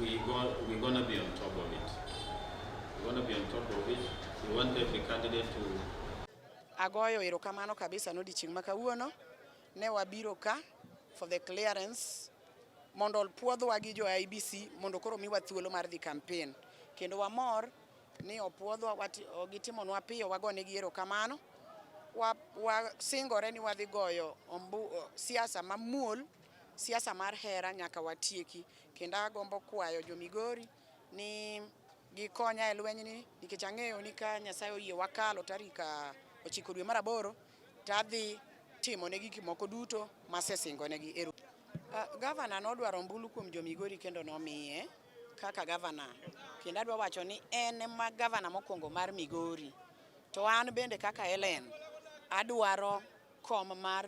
We go, we gonna be on top of it. We gonna be on top of it. We want every candidate to Agoyo erokamano kabisa n'odiechieng' ma kawuono ne wabiro ka for the clearance mondo opuodhwa gi jo IBC mondo koro miwa thuolo mar dhi campaign kendo wamor ni opuodhwa gitimonwa piyo wagone gi erokamano wasingore wa ni wadhi goyo ombu, siasa mamuol Siasa mar hera nyaka watieki, kendo agombo kwayo jo Migori ni gikonya e lwenyni nikech ang'eyo ni ka Nyasaye oyie wakalo tarik ah, ochiko dwe mar aboro to adhi timo ne gik moko duto masesingo negi. Eru. Ah, gavana nodwaro ombulu kuom jo Migori kendo nomiye kaka gavana, kendo adwa wacho ni en ma gavana mokwongo mar Migori, to an bende kaka Hellen adwaro kom mar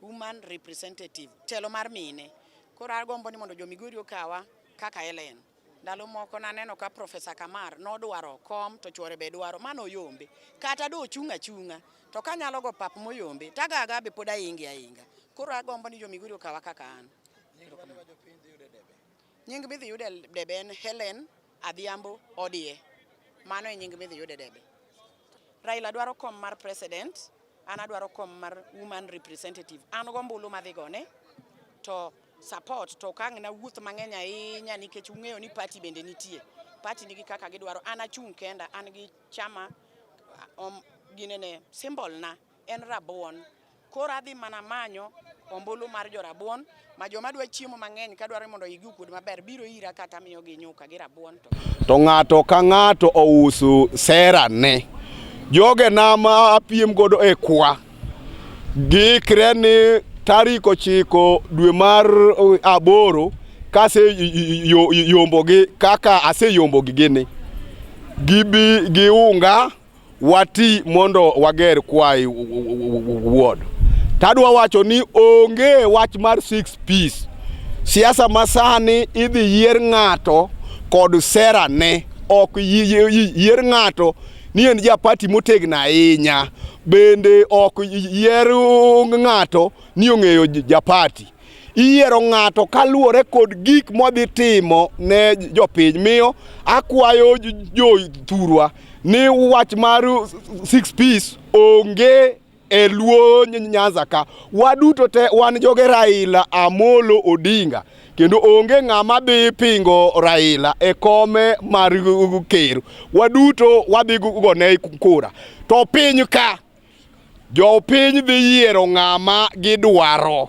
Woman representative, telo mar mine. Koro agombo ni mondo jo Migori okawa kaka Ellen. Ndalo moko naneno ka Profesa Kamar nodwaro kom to chwore be dwaro, mano oyombe. Kata do ochung' achung'a to kanyalo go pap moyombe tagaga be pod ainge ainga. Koro agombo ni jo Migori okawa kaka an. Nying midhi yude debe en Helen Adhiambo Odie. Mano e nying midhi yude debe. Raila dwaro kom mar president, an adwaro kom mar woman representative. An go mbulu madhi gone to support to kang na wuoth mang'eny ahinya nikech ung'eyo ni party bende nitie. Party nigi kaka gidwaro. An achung' kenda, an gi chama um, ginene symbol na en rabuon. Koro adhi mana manyo ombulu mar jorabuon ma joma dwa chiemo mang'eny ka dwaro mondo igi okuod maber biro ira kata miyo gi nyuka gi rabuon to. To ng'ato ka ng'ato ousu sera ne. Joge na ma apiem godo e kwa. Giikre ni tarik ochiko dwe mar aboro kase yombogi kaka aseyombogi gini gibi gi unga wati mondo wager kwayi wuod tadwa wacho ni onge wach mar six piece siasa masani idhi yier ng'ato kod sera ne ok yier ng'ato ni en japati motegno ahinya bende ok yier ng'ato ni ong'eyo japati iyiero ng'ato kaluwore kod gik modhi timo ne jopiny miyo akwayo jothurwa ni wach mar six piece onge e luo nyanza ka waduto te wan joge raila amolo odinga kendo onge ng'ama dhi pingo raila e kome mar ker waduto wadhi gone kura to piny ka jopiny dhi yiero ng'ama gidwaro